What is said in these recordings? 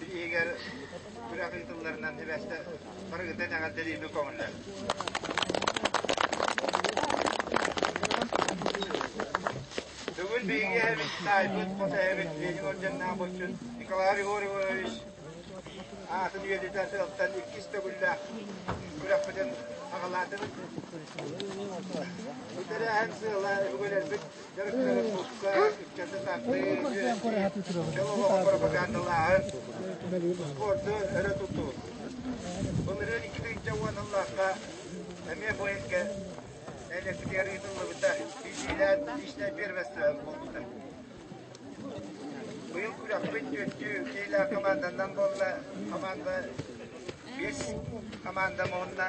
иһигэр күрэх ыытылларынан сибэстэ барыгыта этэҕэлдэлиирбин көҥүллэр. Бүгүн биһиги эһэбит, таайбыт, хос эһэбит Леньор дьонноох боччун Николай Григорьевич аатын үйэтитэр сыалтан иккис төгүллээх күрэхпитин аҕалаатын бүтэрээһин сыала өбүгэлэрбит спорты өрө тутуу. Былырыын икки тыһыынча уон ыллаахха эмиэ поездка электр ыытыллыбыта. Биилээн личное первенство буолбута. Быйыл күрэхпит түөртүү киилэ команданан буолла. Команда бес команда муонна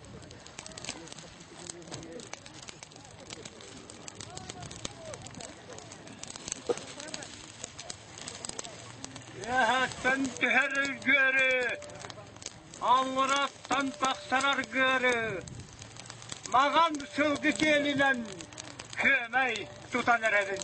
Эһэттэн түһэр ыргыары, Аҥыраттан тахсар аргыары, Маған сылгы киэлинэн, Күөмэй тутан эрэрин.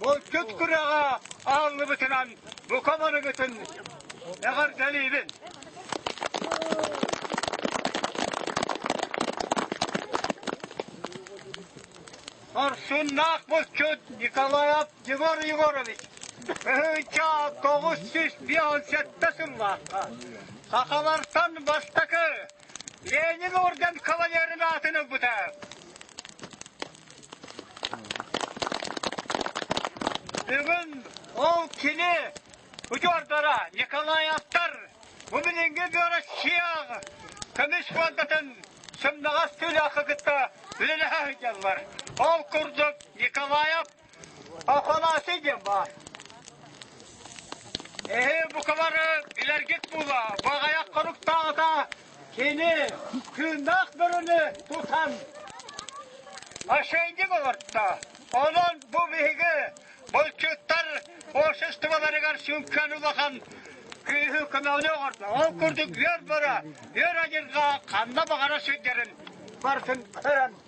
Булчут күрэҕэ ааҥныбытынан бу комарыгытын эҕэрдэлиибин! Хорсуннаах булчут Николаев Егор Егорович тыһыынча тоҕус сүүс биэс сэттэ сыллаахха сахалартан бастакы Ленин орден кавалерын аатын ылбыта. Бүгүн ол кини удьуордара Николай Астар бу билиҥҥи Россияҕа көмүс фондатын сымнаҕас тыылаахха кытта үлэлэһэ сылдьаллар. Ол курдук Николаев Афанасий диэн баар. Эһи букалары илэргит була, бу аҕаяк хоруктаата Кини тыыннаах бөрүнү тутан мошенник олордо. Онон бу биһиги булчуттар обществоларыгар сүҥкэн улахан күүһү көмөҕүнү оҥордо. Ол курдук үөр бөрө, үөр адьырҕа ханна баҕара сылдьарын барытын көрөн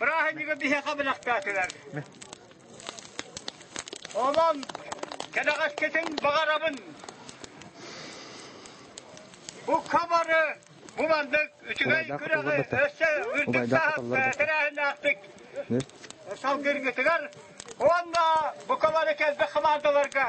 Браһынньыгы биһиэхэ бэлэхтээтилэр. Олон, кэдэҕэскэтин баҕарабын. Бу хабары, бу маннык үчүгэй күрэҕи өссө үрдүк сааһы тэрээһиннээхтик салгыыргытыгар уонна бу хабары кэлбит хамаандаларга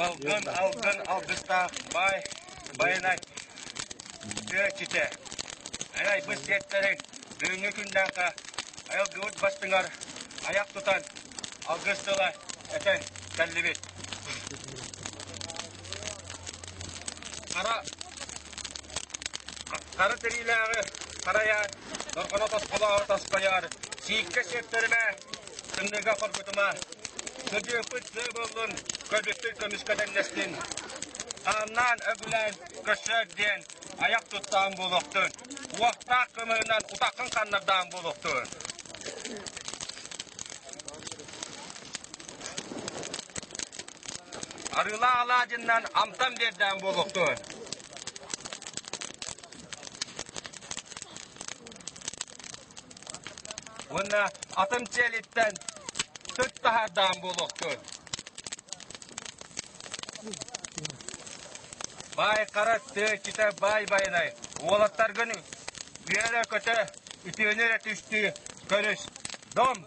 Балгын, алгын, алгыстаах, баай, байанай, тыаччыта, эн айбыт сиэттэрин бүгүҥҥү күннээххэ айылгыбыт бастыҥар айах тутан алгыс тыла этэ кэллибит. Хара хара тириилээҕи харайаат, дорҕоно тосхолооро тосхойоор, сииккэ сиэттэримэ, тымныыга хоргутума. Сыдьыыппыт сыа буоллун, көбүкпүт көмүскэ тэннэстин. Ааннаан өгүлээн көссөөт диэн айах туттаан буолуохтун. Уохтаах кымыһынан утаххын ханнардаан буолуохтун. Арыылаах алаадьыннан амтан биэрдээн буолуохтун. уонна атын дьиэлиттэн түт таһаардаан буолуохтун. Бай хара тыа китэ бай байнай уолаттаргын үйэлэ көтө үтүөнү эрэ түстүү көрүс. Дом